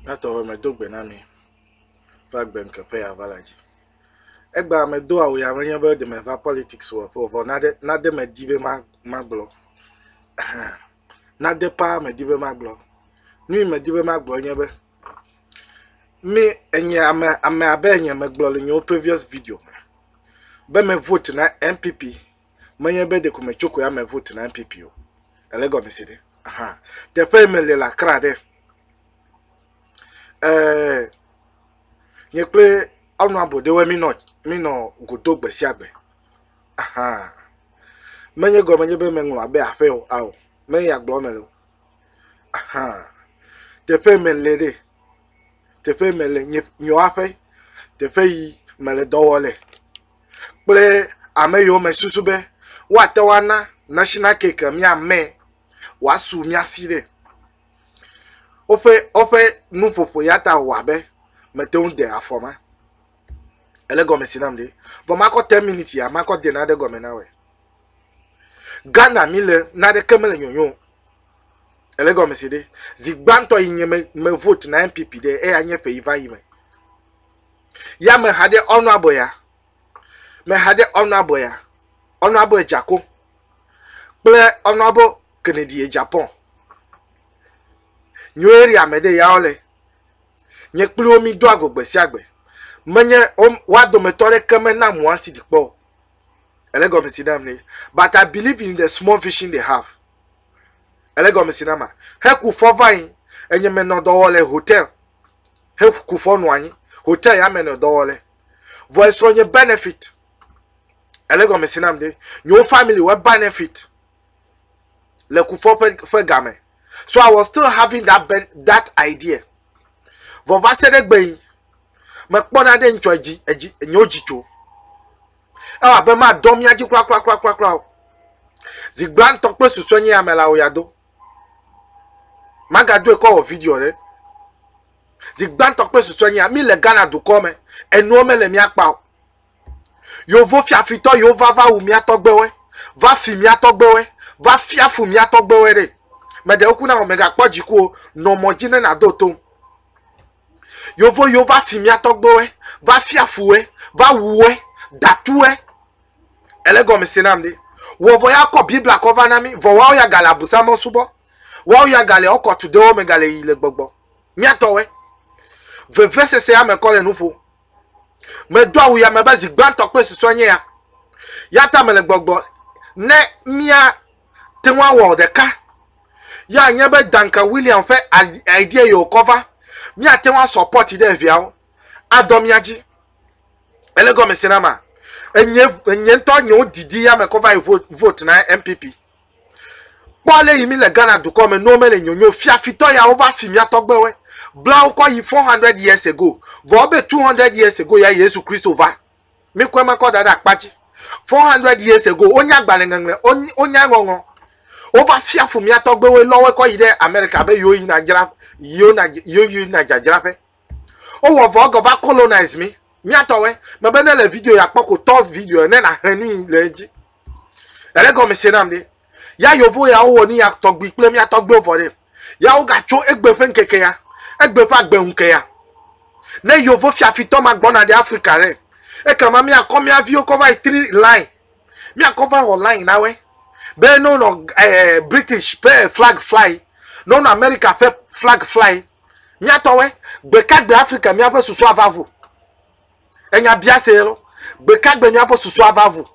Natɔ be medo gbe na mi va gbe ŋke ƒe yeava la dzi. Egba medo awu ya menye be ɖe meva politics wɔƒe o vɔ nade nade medi be ma magblɔ. nade paa medi be magblɔ. Nu yi medi be magblɔ nye be mi enye ame ame abe enye megblɔ le nyewo previous video me be me vote na NPP menye be ɖeko me tso koe ame vote na NPP o. Ele gɔme se ɖe. Aha. Teƒe me le le Accra ɖe. Eh, nye kple ɔnu abo ɖewe mi nɔ, mi nɔ godo gbe sia gbe. Aha. Menye gɔme nye be me ŋlɔ abe aƒe o, ao. Menye ya gblɔ me le o. Aha. Teƒe me le ɖe. Teƒe me le nye, nye aƒe. Teƒe yi me le dɔwɔ le. kple ame yiwo me susu be woate ŋu ana national cake miame wòasu mia si ɖe. Woƒe woƒe nuƒoƒo ya ta wɔ abe mete ŋu de afɔ ma. Ele gɔme si nam ɖe. Vɔ makɔ ten minutes ya makɔ de nane gɔme na wòe. Ghana mi le naneke mele nyonyo o. Ele gɔme si ɖe. Zi gbãtɔ yi nye me me vote na NPP ɖe eya nye ƒe yi va yi me. Ya me haɖe ɔnu abɔ ya. Me haɖe ɔnu abɔ ya. Ɔnu abɔ edzako. Kple ɔnu abɔ kenedi edzapɔn. Nyuie eri ame ɖe ya ɔle. Nye kpli wo mi do ago gbe sia gbe. Menye wa dometɔ ɖe ke me na mu asi di kpɔ. Ele gɔme si nam ne. But I believe in the small vision they have. Ele gɔme si nama. Heku fɔ vain. Enye menɔ dɔwɔ le hotel. heku fɔ nɔ anyi hotel ya me nɔ dɔ wɔ le vɔ esrɔ nye benefit ele gɔme si nam de nyewo family wɔ benefit le kufɔ ƒe ƒe game so i was still having that ben, that idea vɔ va se ɖe gbe yi mekpɔ na ɖe ŋtsɔ edzi edzi nyewo dzi tso ewɔ abe ma dɔ mia dzi kura kura kura kura kura o zigbantɔ kple susue nye amelawo ya do magadoe kɔ wɔ video ɖe zi gbãtɔ kple susue nyea míle ghana dukɔ me enuwo mele mía kpa o yovo fiafitɔ yiwo va va wu mía tɔgbewe va fi mía tɔgbewe va fiafu mía tɔgbewe ɖe meɖewo kuna o megakpɔ dziku o nɔ mɔ dzi ne nàdo tom yovo yiwo va fi mía tɔgbewe va fiafuwe va wuwe datuwe Ele gɔme se nam ɖi. Wɔvɔ ya kɔ Biblia kɔ va na mi. Vɔ wawo ya gale abusa me subɔ. Wawo ya gale ɔkɔ tu ɖewo me gale yi le gbɔgbɔ. Miatɔwɔe. Vevesese ya me kɔ le nuƒo. Medo awu ya me be zi gbãtɔ kple susɔ nye ya. Ya ta me le gbɔgbɔ ne mia te ŋu awɔ ɖeka. Ya nye be Duncan William ƒe idea yi wokɔ va. Miate ŋu asɔpɔti ɖe eviawo adɔ mia dzi. ele gɔme se na ma enye enye ŋutɔ nye wo didi ya me kɔ va yi vote vote na npp kpɔ ale yi mi le ghana dukɔ me n'o mele nyonyo fiafitɔ ya wo va fi mia tɔgbewe bla wo kɔ yi 400 years ago vɔ wo be 200 years ago ya yesu kristo va mi kɔe ma kɔ da ɖe akpa dzi 400 years ago wo nya gbalẽ ŋeŋle wo ny- wo nya ŋɔŋɔ wo va fia fu mia tɔgbewe lɔwe kɔ yi ɖe amerika be yewo yina dzra yewo na yewo yina dzadzraƒe O wɔ vɔ gɔ va colonize mi. Mia tɔ wɛ. Me be ne le video ya kpɔ ko tɔ video ne na he nui le edzi. Ele gɔ me se nam de. Ya yovo ya o wɔ ni ya tɔgbi kple mia tɔgbi o vɔ de. Ya o ga tso egbe fe nkeke ya. Egbe fa gbe unke ya. Ne yovo fiafitɔ ma gbɔna de Africa re. Eka ma mia kɔ mia viwo kɔ va yi tri line. Mia kɔ va wɔ line na wɛ. Be no no eh, British pe flag fly. No no America pe flag fly. Míatɔwɛ, gbekagbe Afrika míaƒe susu ava ʋu? Enya biasee lɔ, gbekagbe míaƒe susu ava ʋu?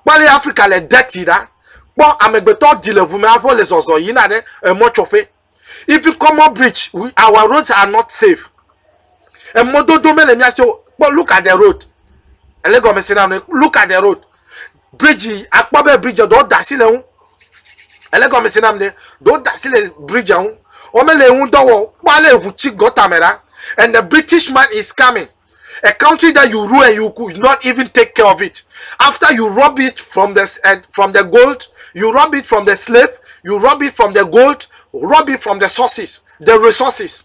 Kpɔ ale Afrika le deti ɖa. Kpɔ amegbetɔ di le ʋume aƒe le zɔzɔ yina ɖe emɔtsɔƒe. Even common bridge, we, our roads are not safe. Emɔdodo mele mía si o. Kpɔ look at the road. Ele gɔmesena nɔe. Look at the road. bridge akpɔ be bridge ɖewo da asi le ŋu ele gɔme si nam de ɖewo da asi le bridge ŋu wɔmele ŋu dɔ wɔ kpɔ ale eŋu tsi gɔta me ɖa and the british man is coming a country that you rule and you could not even take care of it after you rob it from the uh, from the gold you rob it from the slave you rob it from the gold rob it from the sources the resources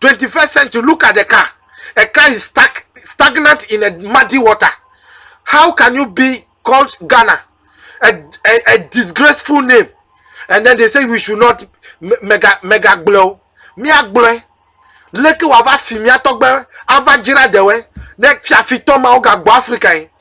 21st century, look at the car. A car is stuck, stagnant in a muddy water. How can you be called Ghana? A, a, a disgraceful name. And then they say we should not mega mega blow. Mia gblɔe. Leke wava fi mia tɔgbe ava dzra ɖewɔe ne fiafitɔ mawo gagbɔ Afrika yi.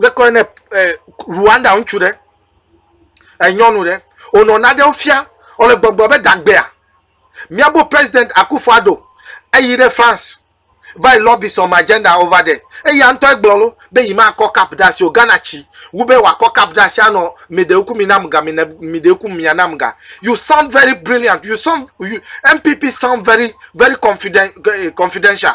Wokɔ nɛ le Rwanda ŋutsu ɖe, enyɔnu ɖe, wònɔ naɖewo fia, wòle gbɔgblɔ be dagbea, míaƒe president Akuffo Addo eyi ɖe France va yi lobby some agenda over there. Eya ŋutɔ egblɔ lo be yi makɔ cup ɖe asi o, Ghana tsi wu be wòakɔ cup ɖe asi anɔ mideoku mi nam ga, mine mideoku mia nam ga. You sound very brilliant, you sound, you, MPP sound very, very confident, eh, confidential.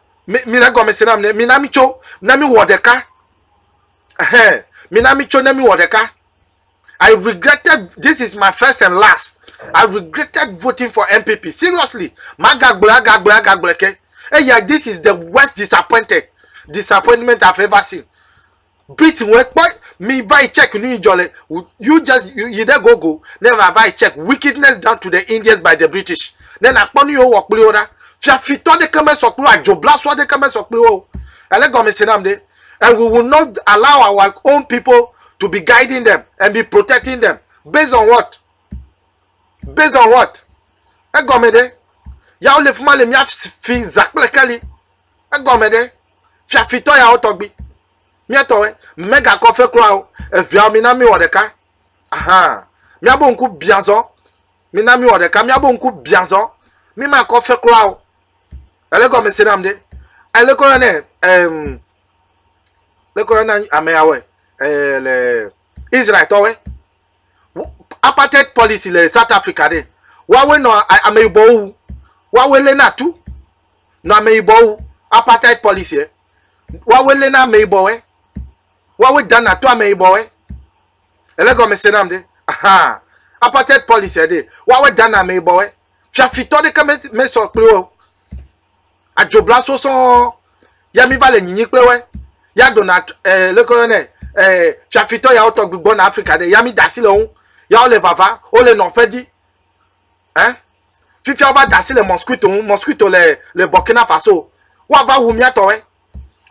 mina gɔme se nam ne mina mi tso na mi wɔ ɖeka ɛhɛn mina mi tso ne mi wɔ ɖeka i regretted this is my first and last i regretted voting for npp seriously magagblɔ agagblɔ agagblɔ ke eya this is the worst disappointed disappointment i've ever seen Brit ŋue kpɔ mi va yi check nu yi dzɔ le you just you, yi ɖe gogo ne va va yi check wickedness done to the Indians by the British ne nakpɔ nu yi wowɔ kpli wo ɖa fiafitɔ ɖeke mesɔ kpli wo adzoblasua ɖeke mesɔ kpli wo ele gɔme se nam ɖe and we will not allow our own people to be guiding them and be protecting them based on what based on what egɔme ɖe yawo le fi ma le mia fi za kple keli egɔme ɖe fiafitɔ yawo tɔgbi míatɔwe megakɔ fe kura o eʋiawo mina mi wɔ ɖeka ahan míabo ŋku biazɔ mina mi wɔ ɖeka míabo ŋku biazɔ mi ma kɔ fe kura o ele gɔme se nam ɖe ele kɔ yɔ ne ɛm le kɔ yɔ na ame yawo ɛɛ le israel tɔwe apartheid policy le south africa ɖe wawe nɔ ameyibɔwo wu wawe lena tu. nɔ ameyibɔwo apartheid policy e woawoe lena ameyibɔwoe woawoe dana to ameyibɔwoe ele gɔme se nam de aha apartheid policy e de woawoe dana ameyibɔwoe fiafitɔ ɖeke me me sɔ kple wo adzobla sosɔ ya mi va le nyinyi kple woe ya dona eh, leke yɔ ne eh, fiafitɔ yawo tɔgbi gbɔna afrika de ya mi dasi le wo ya wo le vava wo le nɔƒe di eh? fifia wova da asi le mosquito ŋu mosquito le le burkina faso woava wu míatɔwɔe eh?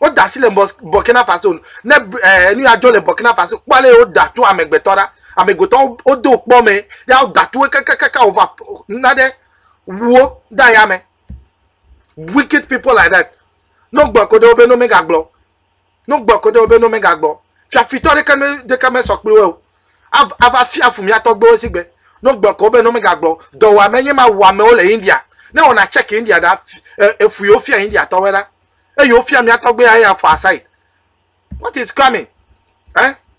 woda asi le burkina faso ne eh, nu ya dzɔ le burkina faso kpɔ le woda to amegbetɔ ɖa amegbetɔ wodo kpɔ me ya woda to kakakaka wova na ɖe wuwo da ya me wicked people like that no gblɔ ko ɖe wo be no megagblɔ No gbɔ kodo wobe no mega gbɔ. Fiafitɔ ɖeke me ɖeke me sɔ kpli wo. Ava fia fu mia tɔgbe wo sigbe. No gbɔ kodo wobe no mega gbɔ. Dɔ wa me nye ma wa me wo le India. Ne wo na check India da efu yo fia India tɔwe da. E yo fia mia tɔgbe ya ya fɔ aside. What is coming? Eh?